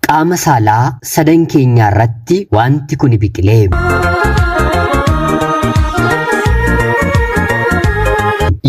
Qaama saalaa sadan keenyaa irratti wanti kuni biqilee.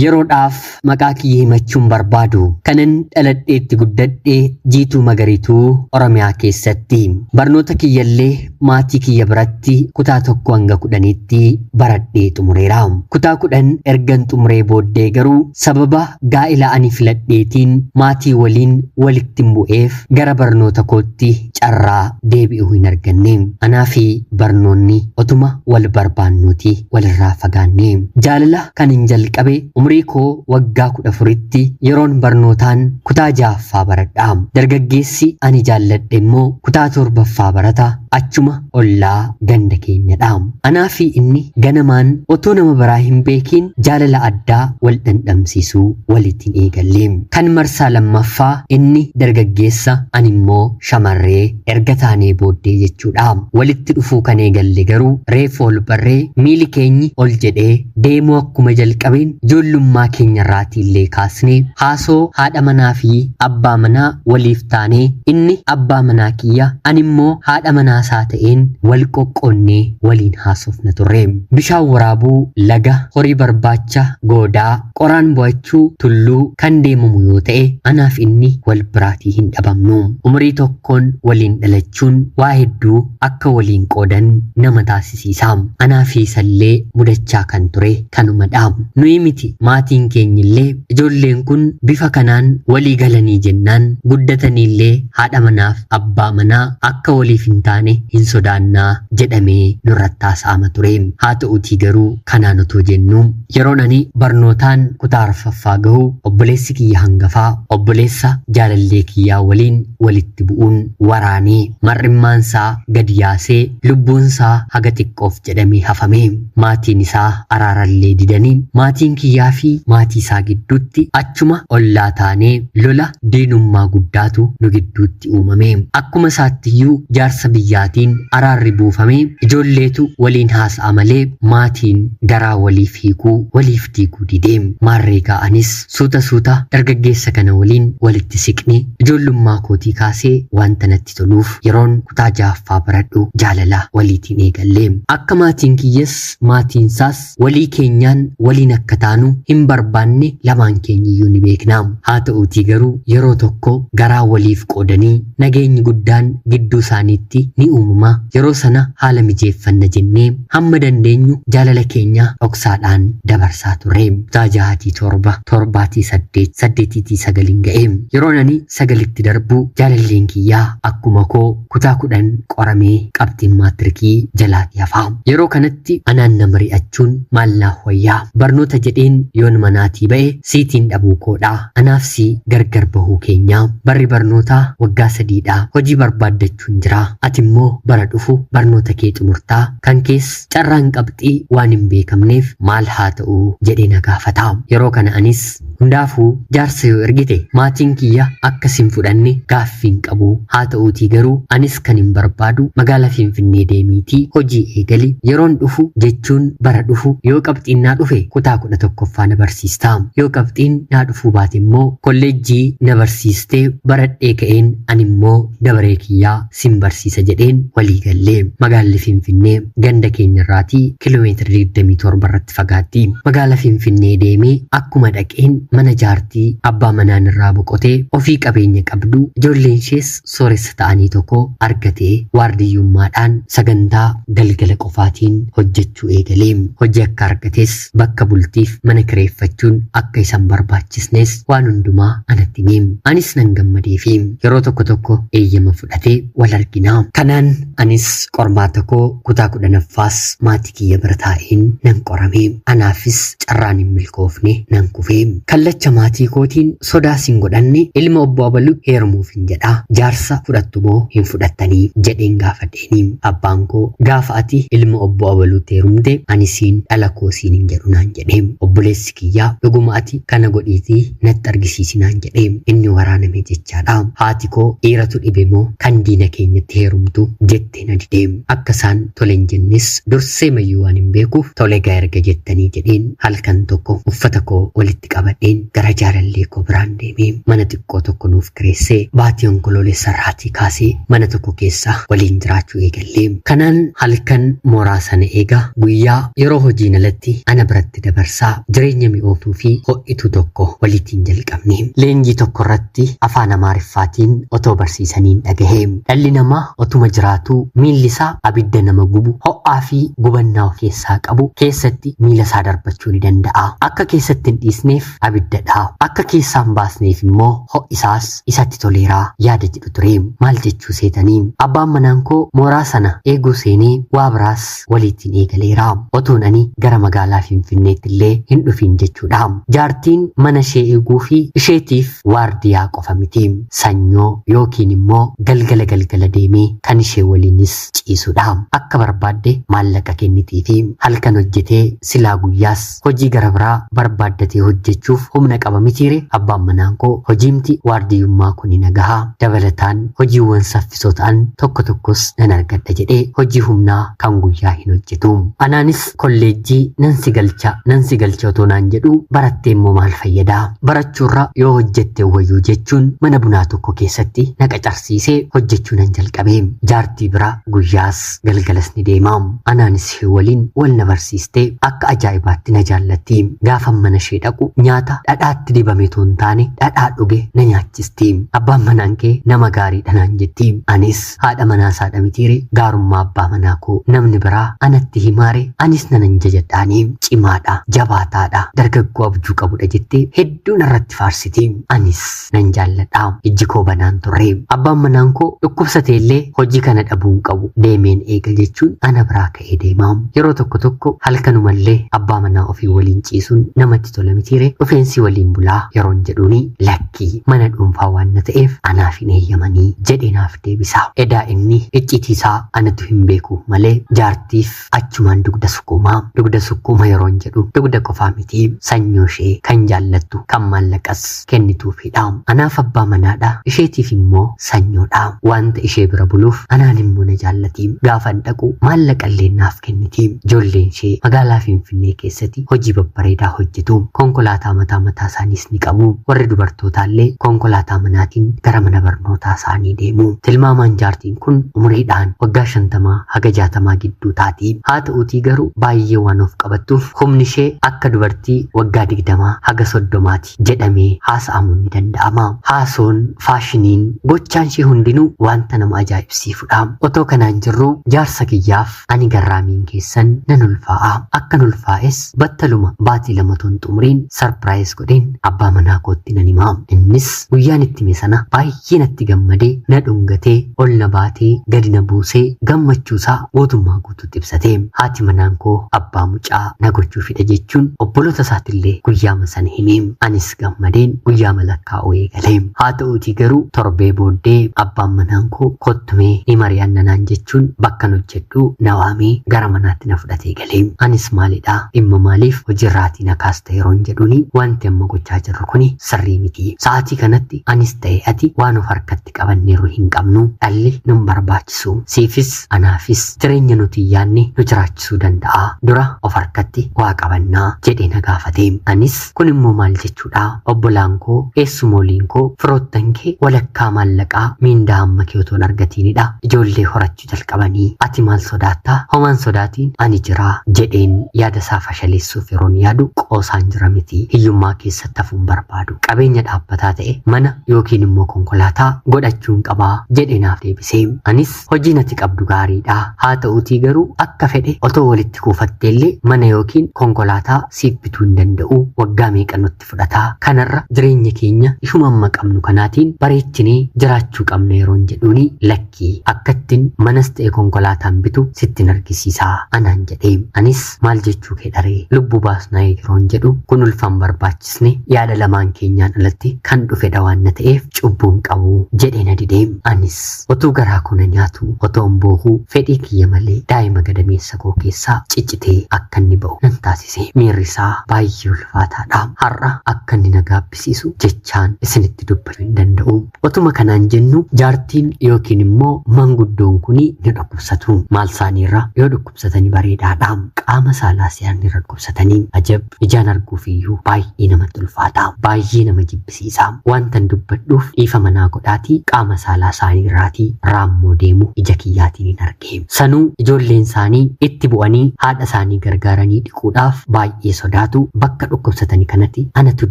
Yeroodhaaf maqaa kiyya himachuun barbaadu kanan dhaladheetti guddadhe jiituu magariituu Oromiyaa keessatti barnoota kiyyallee maatii kiyya biratti kutaa tokko hanga kudhaniitti baradhee xumureera. Kutaa kudhan ergan xumuree booddee garuu sababa gaa'ila ani filadheetiin maatii waliin walittin bu'eef gara barnoota kootti carraa deebi'uu hin arganne. Anaa fi barnoonni otuma wal barbaannuuti walirraa fagaanne. Jaalala kanin jalqabe umurii koo waggaa kudha afuritti yeroon barnootaan kutaa ja'a lammaffaa baradha. Dargaggeessi ani jaalladhe immoo kutaa torbaffaa barata achuma ollaa ganda keenyadha. Anaa fi inni ganamaan otoo nama biraa hin beekiin jaalala addaa wal dhandhamsiisuu waliitiin eegalle. Kan marsaa lammaffaa inni dargaggeessa ani immoo shamarree erga taanee booddee jechuudha. Walitti dhufuu kan eegalle garuu reefu ol barree miili keenyi ol jedhee deemuu akkuma jalqabeen ijoollummaa keenya irraatii illee kaasnee haasoo haadha manaa fi abbaa manaa waliif taanee inni abbaa manaa kiyya ani immoo haadha manaa isaa ta'een wal qoqqoonnee waliin haasofna turre. Bishaan waraabuu, laga, horii barbaacha, goodaa, qoraan bu'achuu, tulluu kan deemamu yoo ta'e anaaf inni wal biraatii hin dhabamnu. Umurii tokkoon waliin dhalachuun waa hedduu akka waliin qoodan nama taasisa. agarsiisa. Anaa fi isallee mudachaa kan ture kanuma dha. Nuyi miti maatiin keenyillee ijoolleen kun bifa kanaan walii galanii jennaan guddataniillee haadha manaaf abbaa manaa akka waliif hin taane hin sodaannaa jedhamee nurratti haasa'ama ture. Haa ta'uutii garuu kanaan otoo jennuu. Yeroon ani barnootaan kutaa arfaffaa gahu obboleessi kiyya hangafaa obboleessa jaalallee kiyyaa waliin walitti bu'uun waraanee mar'immaansaa gad yaasee lubbuunsaa haga xiqqoof jedhamee hafame. Maatiin isaa araarallee didanii maatiin kiyyaafi maatiisaa gidduutti achuma ollaa taanee lola diinummaa guddaatu nu gidduutti isaatti uumame. Akkuma isaattiyyuu jaarsa biyyaatiin araarri buufamee ijoolleetu waliin haasa'a malee maatiin garaa waliif hiikuu, waliif diiguu dide. Maarreegaa anis suuta suuta dargaggeessa kana waliin walitti siqne. Ijoollummaa kootii kaasee wanta natti toluuf yeroon kutaa jahaffaa baradhu jaalala waliitiin eegalle. Akka maatiin kiyyas maatiinsaas Walii keenyaan waliin akka taanu hin barbaanne lamaan keenyiyyuu ni beekna. Haa ta'uutii garuu yeroo tokko garaa waliif qoodanii nageenyi guddaan gidduu isaaniitti ni uumama. Yeroo sana haala mijeeffanna jennee hamma dandeenyu jaalala keenya dhoksaadhaan dabarsaa turre. Kutaa 6tii 7, 7tii 8, 8tii 9n ga'e. Yeroon ani sagalitti darbu jaalalleen kiyya akkuma koo kutaa kudhan qoramee qabxiin maatirikii jalaati hafa. Yeroo kanatti anaan na mari'achuun maal naaf wayyaa? Barnoota jedheen yoon manaatii ba'e siitiin dhabuu koodha. Anaaf si gargar bahuu keenya. Barri barnootaa waggaa sadiidha. Hojii barbaaddachuun jira. Ati immoo bara dhufu barnoota kee xumurtaa. Kan kees carraan qabxii waan hin beekamneef maal haa ta'u jedhee na gaafata. Yeroo kana anis Hundaafuu jaarsa yoo ergite maatiin kiyya akka si hin fudhanne gaaffii hin qabu. Haa ta'uutii garuu anis kanin barbaadu magaala Finfinnee deemiitii hojii eegali. Yeroon dhufu jechuun bara dhufu yoo qabxiin naa dhufe kutaa 11ffaa na barsiista. Yoo qabxiin naa dhufuu baate immoo kolleejjii na barsiistee baradhee ka'een animmoo dabaree kiyya sin barsiisa jedheen walii galle. Magaalli Finfinnee ganda keenya irraatii kilomeetira 27 irratti fagaatti. Magaala Finfinnee deemee akkuma dhaqeen mana jaartii abbaa manaan irraa boqotee ofii qabeenya qabdu ijoolleen ishees sooressa ta'anii tokko argatee waardiyyummaadhaan sagantaa galgala qofaatiin hojjechuu eegale. Hojii akka argates bakka bultiif mana kireeffachuun akka isa hin barbaachisnes waan hundumaa anatti hime. Anis nan gammadeefi. Yeroo tokko tokko eeyyama fudhatee wal argina. Kanaan anis qormaata koo kutaa kudhanaffaas maatii kiyya bira taa'een nan qorame. Anaafis carraan hin milkoofne nan kufe. Kallacha maatii kootiin sodaas hin godhanne ilma obbo Abalu heerumuufin jedha. Jaarsa fudhattu moo hin fudhattanii? jedheen gaafadhe. Iniin abbaan koo gaafa ati ilma obbo abaluutti heerumte ani siin dhala koo siin hin jedhu naan jedhe. Obboleessi kiyya dhuguma ati kana godhiitii natti argisiisi naan jedhe. Inni waraaname jechaadha. Haati koo dhiiratu dhibe moo kan diina keenyatti heerumtu jettee na dide. Akka isaan tole hin jennes dursee mayyuu waan hin beekuuf tole gaa erga jettanii jedheen halkan tokko uffata koo walitti qabadheen gara jaalallee koo biraan deeme. Mana xiqqoo tokko nuuf kireessee baatii onkoloolessa irraatii kaasee mana tokko keessa waliin jiraachuu eegalle. Kanaan halkan mooraa sana eega, guyyaa yeroo hojiin alatti ana biratti dabarsa, jireenya mi'ooftuu fi ho'ituu tokko walitiin jalqabne. Leenjii tokko irratti afaan Amaariffaatiin otoo barsiisaniin dhagahe. Dhalli namaa otuma jiraatuu miilli isaa abidda nama gubu, ho'aa fi gubannaa of keessaa qabu keessatti miila isaa darbachuu ni danda'a. Akka keessatti hin dhiisneef abidda dha. Akka keessaa hin baasneef immoo ho'isaas isatti toleera yaada jedhu ture. Maal jechuu seetanii? Abbaan manaan koo mooraa sana eeguu seenee waa biraas waliitiin eegaleera. Otuun ani gara magaalaa Finfinneetti illee hin dhufiin jechuudha. Jaartiin mana ishee eeguu fi isheetiif waardiyaa qofa miti. Sanyoo yookiin immoo galgala galgala deemee kan ishee waliinis ciisudha. Akka barbaadde maallaqa kennitiifi. Halkan hojjetee silaa guyyaas Hojii gara biraa barbaaddatee hojjechuuf humna qaba mitiire? Abbaan manaan koo hojiimti waardiyyummaa kuni na gaha. Dabalataan hojiiwwan saffisoo ta'an tokko tokkos nan argadha jedhee hojii humnaa kan guyyaa hin hojjetu. Anaanis kolleejjii nan si galcha nan si galcha otoo naan jedhuu barattee immoo maal fayyada? Barachuurra yoo hojjette wayyuu jechuun mana bunaa tokko keessatti na qacarsiisee hojjechuu nan jalqabe. Jaartii bira guyyaas. galgalas ni deema. Anaanis ishee waliin wal na barsiiste akka ajaa'ibaatti na jaallatti. Gaafan mana ishee dhaqu nyaata dhadhaatti dibame too hin taane dhadhaa dhuge na nyaachisti. Abbaan manaan kee nama gaariidha naan jetti. Anis haadha manaa isaa dhamitiire gaarummaa abbaa manaa koo namni biraa anatti himaare anis nanan jajadhaani. Cimaadha, jabaataadha, dargaggoo abjuu qabudha jettee hedduun irratti faarsiti. Anis Nan jaalladha. Ijji koo banaan ture. Abbaan manaan koo dhukkubsate illee hojii kana dhabuu hin qabu. Deemeen eega jechuun ana biraa ka'ee deema. Yeroo tokko tokko halkanuma illee abbaa manaa ofii waliin ciisuun namatti tola mitiire dhufeensi waliin bulaa yeroon jedhuuni lakkii mana dhuunfaa waan na ta'eef anaaf hin eeyyamanii jedhee naaf deebisa. Edaa inni icciitii isaa anatu hin beeku malee jaartiif Achumaan dugda sukkuuma. Dugda sukkuuma yeroon jedhu dugda qofaa miti. Sanyoo ishee kan jaallattu, kan maallaqas kennituufiidha. Anaaf abbaa manaadha, isheetiif immoo sanyoodha. Waanta ishee bira buluuf anaan immoo na jaallati. Gaafan dhaqu maallaqa illee naaf kenniti. Ijoolleen ishee magaalaa Finfinnee keessati hojii babbareedaa hojjetu. Konkolaataa mataa mataa isaaniis ni qabu. Warri dubartootaa illee konkolaataa manaatiin gara mana barnootaa isaanii deemu. Tilmaamaan jaartiin kun umuriidhaan waggaa shantamaa haga jaatamaa gidduu taati. Haata'uutii garuu baay'ee waan of qabattuuf humnishee akka dubartii waggaa digdamaa haga soddomaati jedhamee haasa'amuun ni danda'ama. Haasoon, faashiniin, gochaanshee hundinuu wanta nama ajaa'ibsiifudha. Otoo kanaan jirruu jaarsa kiyyaaf ani garraamiin keessan nan ulfaa'a. Akkan ulfaa'es battaluma baatii lama otoo hin xumuriin sarpiraayiz godheen abbaa manaa kootti nan hima. Innis guyyaan itti hime sana baay'ee Baay'ee natti gammade, na dhungate, ol na baatee gadi na buuse, gammachuusaa guutummaa guutuutti ibsate. Haati manaan koo abbaa mucaa na gochuu fida jechuun obbolootasaatillee guyyaama sana hime. Anis gammadeen guyyaama lakkaa'uu eegale. Haata'uutii garuu torbee booddee abbaan manaan koo kottumee ni mari'anna naan jechuun bakkan hojjedhuu na waamee gara manaatti na fudhatee gale. Anis maalidha dhimma maaliif hojiirraatii na kaasta yeroon jedhuuni wanti amma gochaa jirru kuni sirrii miti. Sa'aatii kanatti anis ta'e ati waan of harkatti qabanneeru hin qabnu. Dhalli nun barbaachisu. Siifis anaafis jireenya nuti hin yaadne nu jiraachisuu danda'a. Dura of harkatti waa qabanna jedhee na gaafate. Anis kun immoo maal jechuudha? Obbolaan koo, eessumooliin koo, firoottan kee walakkaa maallaqaa miindaa amma kee otoo hin argatiinidha. Ijoollee horachuu itti jalqabanii ati maal sodaatta homaa hin sodaatiin ani jira jedheen yaada isaa fashaleessuuf yeroon yaadu qoosaan jira miti hiyyummaa keessatti hafuun barbaadu qabeenya dhaabbataa ta'e mana yookiin immoo konkolaataa godhachuun qabaa jedhe naaf deebisee anis hojiin ati qabdu gaariidha haa ta'uutii garuu akka fedhe otoo walitti kuufatteellee mana yookiin konkolaataa siif bituu hin danda'u waggaa meeqa nutti itti fudhata. Kanarra jireenya keenya ishuma amma qabnu kanaatiin bareechinee jiraachuu qabna yeroon jedhuuni lakki akkattin manas ta'e konkolaataan bitu sittin argisiisa anaan jedhe. Anis maal jechuu kee dharee lubbu baasnaa yeroon jedhu kun ulfaan barbaachisne yaada lamaan keenyaan alatti kan dhufedha waan na ta'eef cubbuun qabu jedhee na dide. Anis otuu garaa koo na nyaatu otoon boohu fedhii kiyya malee daa'ima gadameessa koo keessaa ciccitee akka inni ba'u nan taasisa. gabbise. Miirri isaa baay'ee ulfaataa dha. Har'a akka inni na gaabbisiisu jechaan isinitti dubbachuu hin danda'u. Otuma kanaan jennu jaartiin yookiin immoo manguddoon kun ni dhukkubsatu. Maal isaanii irra yoo dhukkubsatanii bareedaa dha. Qaama saalaa se'an irra dhukkubsatanii ajab ijaan arguuf iyyuu baay'ee namatti ulfaata. Baay'ee nama jibbisiisa. Wantan dubbadhuuf dhiifama naa godhaatii qaama saalaa isaanii irraatii raammoo deemu ija kiyyaatiin hin arge. deema. Sanuu ijoolleen isaanii itti bu'anii haadha isaanii gargaaranii dhiquudhaaf baay'ee sodaatu. Bakka dhukkubsatani kanati anatu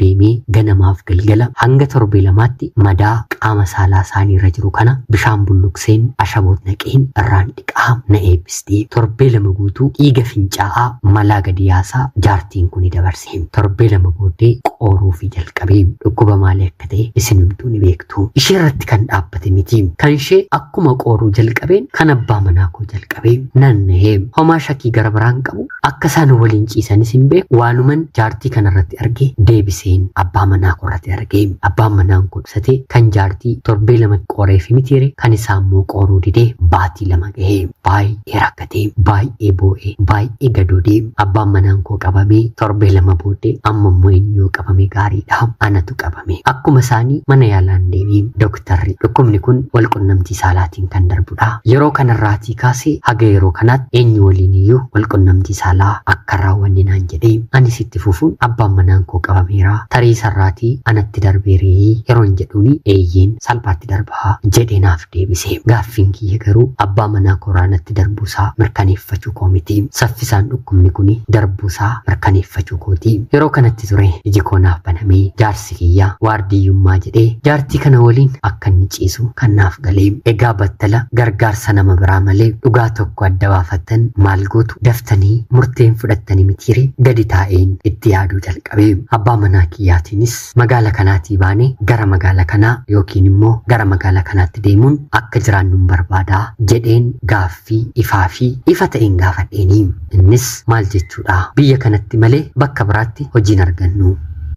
deemee ganamaaf galgala hanga torbee lamaatti madaa qaama saalaa isaanii irra jiru kana bishaan bulluqseen ashaboot naqeen irraan dhiqaa na eebbisti. Torbee lama guutuu dhiiga fincaa'aa malaa gadi yaasaa jaartiin kuni dabarsa. Tiin torbee lama booddee qooruufii jalqabe. Dhukkuba maalii akka ta'e isinumtuu ni beektu. Ishee irratti kan dhaabbate miti. Kan ishee akkuma qooruu jalqabeen kan abbaa manaa koo jalqabe. Nan nahe. Homaa shakii gara biraan qabu akka isaan waliin ciisanis hin beeku waanuman jaartii kana irratti arge deebiseen abbaa manaa koo irratti arge. Abbaan manaan koo ibsate kan jaartii torbee lama qooreefi mitiire kan isaa immoo qooruu didee baatii lama gahe. Baay'ee baay'ee rakkatee baay'ee boo'ee baay'ee gadoodee abbaan manaan koo qabamee torbee lama booddee amma immoo inni yoo qabame gaariidha anatu qabame akkuma isaanii mana yaalaan deemee dooktarri dhukkubni kun wal qunnamtii saalaatiin kan darbudha yeroo kanarraatii kaasee haga yeroo kanaatti eenyu waliin iyyuu wal qunnamtii saalaa akka raawwanne naan jedhee anis itti fufuun abbaan manaan koo qabameera tarii sarraatii anatti darbeerii yeroon jedhuuni eeyyeen salphaatti darbaa jedhee naaf deebisee. Gaaffiin kiyya garuu abbaa manaa koraa natti darbuu isaa mirkaneeffachuu koo miti. Saffisaan dhukkubni kuni darbuu isaa mirkaneeffachuu kooti. Yeroo kanatti ture iji koo naaf banamee jaarsi kiyya waardiyyummaa jedhee jaartii kana waliin akka inni ciisu kan naaf gale. Egaa battala gargaarsa nama biraa malee dhugaa tokko adda baafattan maal gootu? Daftanii murtee hin fudhattani mitiiree? Gadi taa'een itti yaaduu jalqabe. Abbaa manaa kiyyaatiinis Magaala kanaatii baane gara magaala kanaa yookiin immoo gara magaala kanaatti deemuun akka jiraannun barbaada jedheen gaaffii ifaa fi ifa ta'een gaafadheeni. Innis maal jechuudha? Biyya kanatti malee bakka biraatti hojii hin argannu.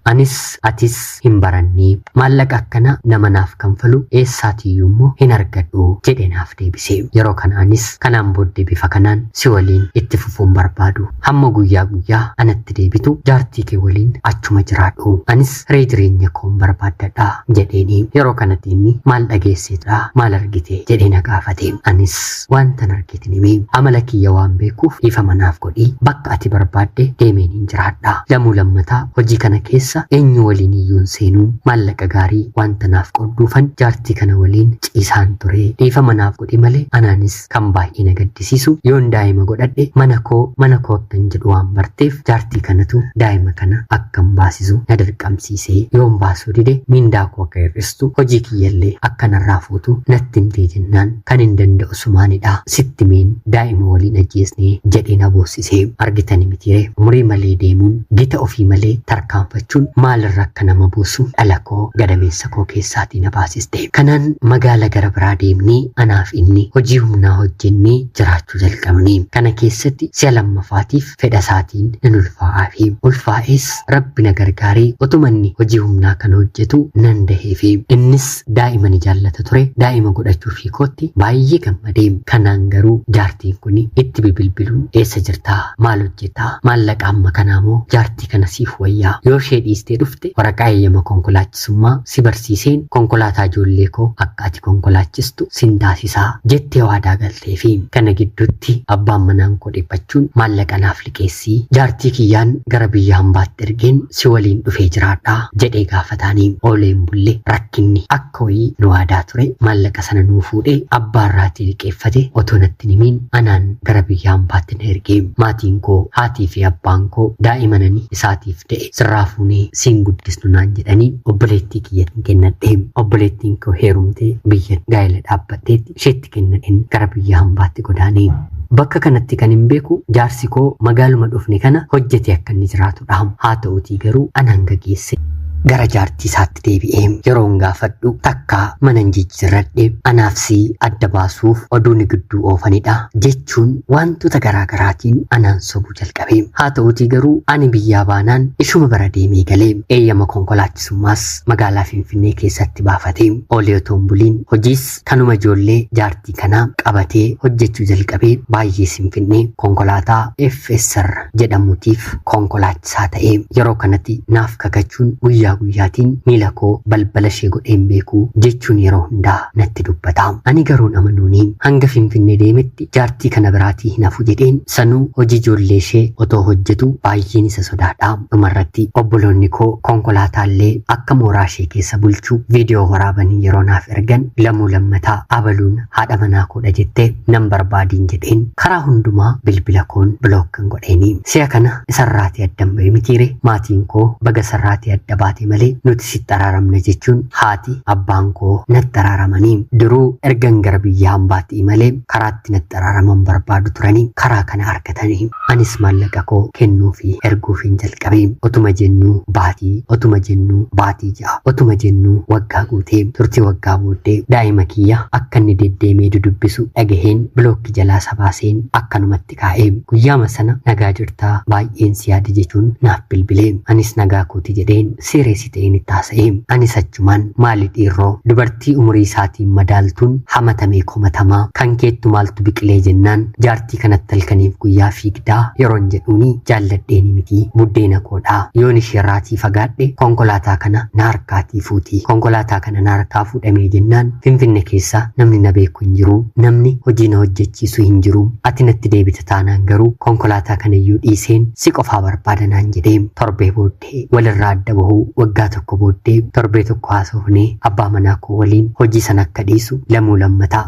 Anis atis hin baranne. Maallaqa akkana nama naaf kanfalu eessaatiyyuu immoo hin argadhu jedhee naaf deebise. Yeroo kana anis kanaan booddee bifa kanaan si waliin itti fufuu hin barbaadu. Hamma guyyaa guyyaa anatti deebitu jaartii kee waliin achuma jiraadhu. Anis hiree jireenya koon barbaaddadha. jedheeni. Yeroo kanatti inni maal dhageesseetdha? Maal argite? jedhee na gaafate. Anis waantan argeetin hime. Amala kiyya waan beekuuf dhiifama naaf godhi. Bakka ati barbaadde deemeenin jiraadha. Lamuu lammata hojii kana keessa eenyu waliiniyyuu hin seenu. Maallaqa gaarii waanta naaf qoodduufan jaartii kana waliin ciisaan ture. Dhiifama naaf godhi malee anaanis Kan baay'ee na gaddisiisu yoon daa'ima godhadhe mana koo mana koo akkan jedhu waan barteef jaartii kanatu daa'ima kana akkan baasisu na dirqamsiise. Yoon baasuu dide miindaa koo akka hir'istu hojii kiyyallee akka narraa fuutu natti himtee jennaan kanin danda'u sumaanidha. Sitti himeen daa'ima waliin ajjeesne jedhee na boossise. Argitani mitiiree umurii malee deemuun gita ofii malee tarkaanfachuun maalirra akka nama buusu dhala koo gadameessa koo keessaatii na baasise. jette. Kanaan magaala gara biraa deemnee anaaf inni hojii humnaa hojjennee jiraachuu jalqabne. Kana keessatti si'a lammafaatiif fedha isaatiin nan ulfaa'aafi. Ulfaa'ees Rabbi na gargaaree otuma inni hojii humnaa kana hojjetu nan daheefi. Innis daa'ima ni jaallata ture. Daa'ima godhachuufii kootti baay'ee gammade. Kanaan garuu jaartiin kun itti bibilbiluun eessa jirtaa? Maal hojjetaa? Maallaqa amma kanaa moo jaartii kana siif wayyaa? Yoo ishee dhiistee dhufte waraqaa eeyyama konkolaachisa summaa si barsiiseen konkolaataa ijoollee koo akka ati konkolaachistu sin taasisa jettee waadaa galteefi. Kana gidduutti abbaan manaan koo dhiphachuun maallaqa naaf liqeessi jaartii kiyyaan gara biyya hambaatti ergeen si waliin dhufee jiraadha jedhee gaafataani. Oolee hin bulle rakkinni akka wayii nu waadaa ture maallaqa sana nuu fuudhee abbaa irraatii liqeeffate otoo natti hin himiin anaan gara biyya hambaatti na erge. Maatiin koo haatii fi abbaan koo daa'imanani isaatiif da'e. sirraa fuunee siin guddisnu naan jedhanii obboleettii kiyyatiin kennadhe obboleettiin koo heerumtee biyya gaa'ela dhaabbatteetti isheetti kennadheen gara biyya hambaatti godaane bakka kanatti kan hin beeku jaarsi koo magaaluma dhufne kana hojjetee akka inni jiraatudha haa ta'utii garuu an hanga geesse gara jaartii isaatti deebi'ee yeroon gaafadhu takkaa mana hin jijjiirradhe anaaf si adda baasuuf oduu ni gidduu oofanidha jechuun wantoota garaagaraatiin anaan sobu jalqabe. Haa ta'uutii garuu ani biyyaa baanaan ishuma bara deemee gale. Eeyyama konkolaachisummaas magaalaa Finfinnee keessatti baafate. Oolee otoo hin buliin hojiis kanuma ijoollee jaartii kanaa qabatee hojjechuu jalqabe. Baay'ees hin finne. Konkolaataa FSR jedhamutiif konkolaachisaa ta'e. Yeroo kanatti naaf kakachuun guyyaa guyyaatiin miila koo balbala ishee godhee hin beeku jechuun yeroo hundaa natti dubbata. Ani garuun amanuuni hanga Finfinnee deemetti jaartii kana biraatii hin hafu jedheen Sanuu hojii ijoollee ishee otoo hojjetu baay'een isa sodaadha. Dhumarratti obboloonni koo konkolaataallee akka mooraa ishee keessa bulchu viidiyoo waraabanii yeroo naaf ergan lamuu lammataa abaluun haadha manaa koodha jettee nan barbaadiin jedheen karaa hundumaa bilbila koon bilookkan godheeni. Si'a kana isarraatii addan ba'e mitiire maatiin koo baga isarraatii adda baate malee nuti sitti araaramna jechuun haati abbaan koo natti araaramanii. Duruu ergan gara biyya hambaatti imalee karaa irratti natti araaraman barbaadu turanii karaa kana argatanii anis maallaqa koo kennuu fi erguufiin jalqabe otuma jennuu baatii otuma jennuu baatii ja'a otuma jennuu waggaa guutee turtii waggaa booddee daa'ima kiyya akka inni deddeemee dudubbisu dhagaheen bilookki jalaa sabaaseen akkanumatti kaa'e guyyaama sana nagaa jirtaa baay'een si yaade jechuun naaf bilbilee anis nagaa kooti jedheen seereessi ta'een itti haasa'e. Anis achumaan maali dhiirroo dubartii umurii isaatiin madaaltuun hamatamee komatamaa kan keettu maaltu biqilee jennaan jaartii kanatti halkaniif guyyaa fiigdaa yeroon jedhuuni jaalladheeni miti buddeena koodha yoon isheerraatii fagaadhe konkolaataa kana na harkaatii fuuti konkolaataa kana na harkaa fuudhamee jennaan finfinne keessa namni na beeku hin jiru namni hojii na hojjechiisu hin jiru ati natti deebita taanaan garuu konkolaataa kanayyuu dhiiseen si qofaa barbaada naan jedhee torbee booddee Ee, Walirraa adda bahuu waggaa tokko booddee torbee tokko haasofnee abbaa manaa koo waliin hojii sana akka dhiisu lamuu lammataa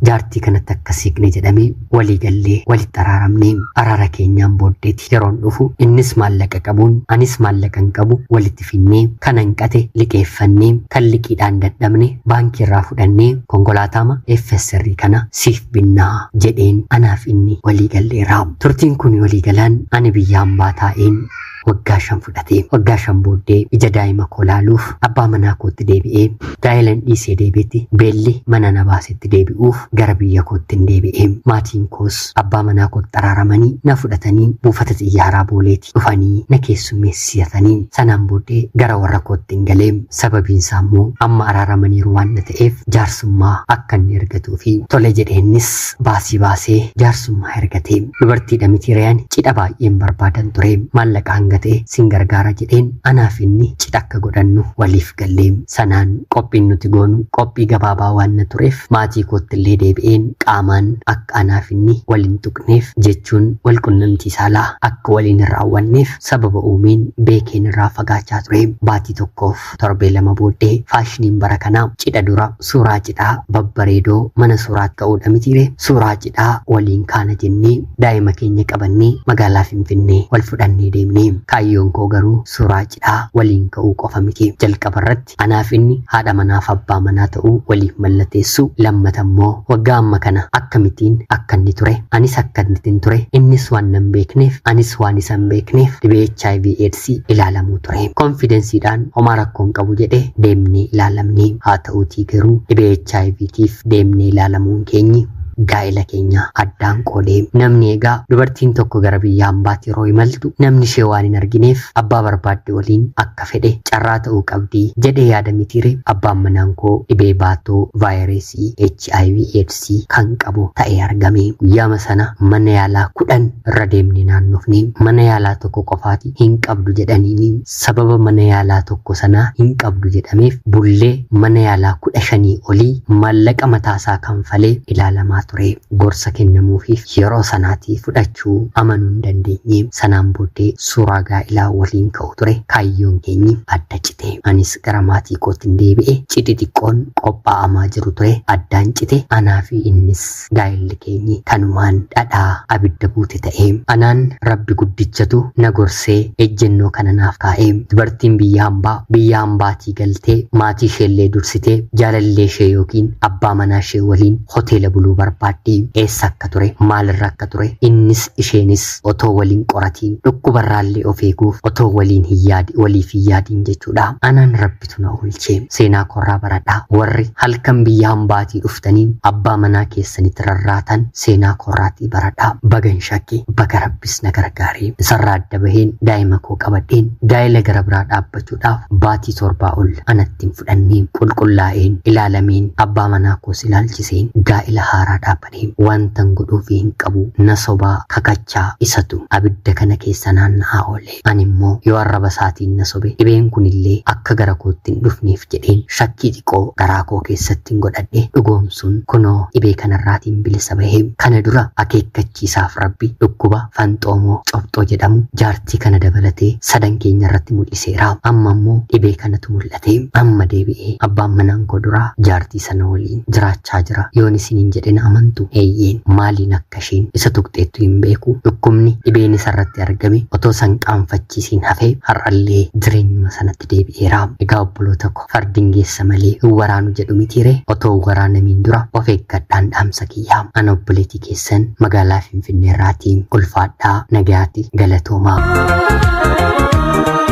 jaartii kanatti akka siiqne jedhamee walii gallee walitti araaramne araara keenyaan booddeeti yeroon dhufu innis maallaqa qabuun anis maallaqa hin qabu walitti finnee kan hanqate liqeeffannee kan liqiidhaan dadhabne baankii irraa fudhannee konkolaataama FSR kana siif binnaa jedheen anaaf inni walii galleera turtiin kun walii galaan ani biyya hambaa taa'een waggaa shan fudhate. Waggaa shan booddee ija daa'ima koo laaluuf abbaa manaa kootti deebi'ee gaa'ilan dhiisee deebi'etti beelli mana na baasetti deebi'uuf gara biyya kootti hin deebi'e. Maatiin koos abbaa manaa kootti araaramanii na fudhatanii buufata xiyyaaraa booleeti dhufanii na keessummeessisatanii sanaan booddee gara warra kootti hin galee sababiin isaa immoo amma araaramaniiru waan na ta'eef jaarsummaa akka inni argatuu fi tole jedheennis baasii baasee jaarsummaa ergate. Dubartiidha miti ree ani cidha baay'een barbaadan ture. Maallaqa hanga ta'e sin gargaara jedheen anaaf inni cidha akka godhannu waliif galle. Sanaan qophiin nuti goonu qophii gabaabaa waanna tureef maatii koottillee deebi'een qaamaan akka anaaf inni wal hin tuqneef jechuun wal qunnamtii saalaa akka waliin hin raawwanneef sababa uumeen beekeen irraa fagaachaa ture. Baatii tokkoof jirtu torbee lama booddee faashiniin bara kanaa cidha dura suuraa cidhaa babbareedoo mana suuraatti ka'uudha mitiire suuraa cidhaa waliin kaana jennee daa'ima keenya qabannee magaalaa finfinnee wal fudhannee deemne kaayyoon koo garuu suuraa cidhaa waliin ka'uu qofa miti jalqaba irratti anaaf inni haadha manaaf abbaa manaa ta'uu waliif mallateessuu lammata immoo waggaa amma kana akkamittiin akka inni ture anis akkamittiin ture innis waan nan beekneef anis waan isan beekneef dhibee hiv aids si ilaalamuu ture. Konfidensiidhaan homaa rakkoo hin qabu jedhe deemnee ilaalamne. Haa ta'uutii garuu dhibee HIV tiif deemnee ilaalamuun keenyi gaa'ela keenya addaan qoode. Namni egaa dubartiin tokko gara biyya hambaatti yeroo imaltu namni ishee waan hin argineef abbaa barbaadde waliin akka fedhe carraa ta'uu qabdi jedhee yaada mitiire abbaan manaan koo dhibee baatoo vaayireesii hiv aids kan qabu ta'ee argame guyyaama sana mana yaalaa kudhan irra deemne naannofne mana yaalaa tokko qofaati hin qabdu jedhaniini sababa mana yaalaa tokko sanaa hin qabdu jedhameef bullee mana yaalaa kudha shanii olii maallaqa mataasaa kanfalee ilaalamaa ture gorsa kennamuufiif yeroo sanaatii fudhachuu amanuu hin dandeenye sanaan booddee suuraa gaa'ilaa waliin ka'u ture kaayyoon keenyi adda cite anis gara maatii koottin deebi'e. Cidhi xiqqoon qophaa'amaa jiru ture addaan cite. Anaa fi innis gaa'elli keenyi kanumaan dhadhaa abidda buute ta'e. Anaan Rabbi guddichatu na gorsee ejjennoo kana naaf kaa'e. Dubartiin biyya hambaa biyya hambaatii galtee maatii isheellee dursitee jaalallee ishee ykn abbaa manaa ishee waliin hoteela buluu barbaaddi. Eessa akka ture, maalirra akka ture innis isheenis otoo waliin qoratiin dhukkubarraallee of eeguuf otoo waliin hin yaadi waliif hin yaadiin jechuudha. Anaan rabbitu na oolche. Seenaa koorraa baradhaa. Warri halkan biyya hambaatii dhuftanii abbaa manaa keessanitti rarraatan seenaa koorraatii baradhaa. Bagan shakke baga rabbis na gargaare. Isarraa adda baheen daa'ima koo qabadheen gaa'ela gara biraa dhaabbachuudhaaf baatii torbaa ol anatti itti hin fudhanne, qulqullaa'een, ilaalameen, abbaa manaa koos ilaalchiseen gaa'ila haaraa dhaabbanee wantan godhuufii hin qabu, na sobaa, kakachaa, isatu abidda kana keessa naanna'aa oole. Ani immoo yoo arraba isaatiin na sobe dhibeen kun illee akka gara kootti hin dhufneef jedheen shakkii xiqoo garaa koo keessattin godhadhe dhugoomsuun kunoo dhibee kanarraatiin bilisa bahe. Kana dura akeekkachiisaaf Rabbi dhukkuba fanxoomoo, cobxoo jedhamu jaartii achi kana dabalatee sadan keenya irratti mul'iseera. Amma ammoo dhibee kanatu mul'ate. Amma deebi'ee abbaan manaan koo duraa jaartii sana waliin jiraachaa jira. Yoon isiniin jedhe na amantu? Eeyyeen. Maaliin akka isheen isa tuqxeettu hin beeku. Dhukkubni, dhibeen isarratti argame otoo isa hin qaanfachiisiin hafee har'allee jireenyuma sanatti itti deebi'eera. Egaa obboloota ko fardin geessa malee hin waraanu jedhu mitii ree? Otoo hin waraanamiin dura of eeggadhaan dhaamsa kiyya. An obboleetii keessan magaalaa Finfinneerraati. Ulfaadhaa nagayaati galatoomaa.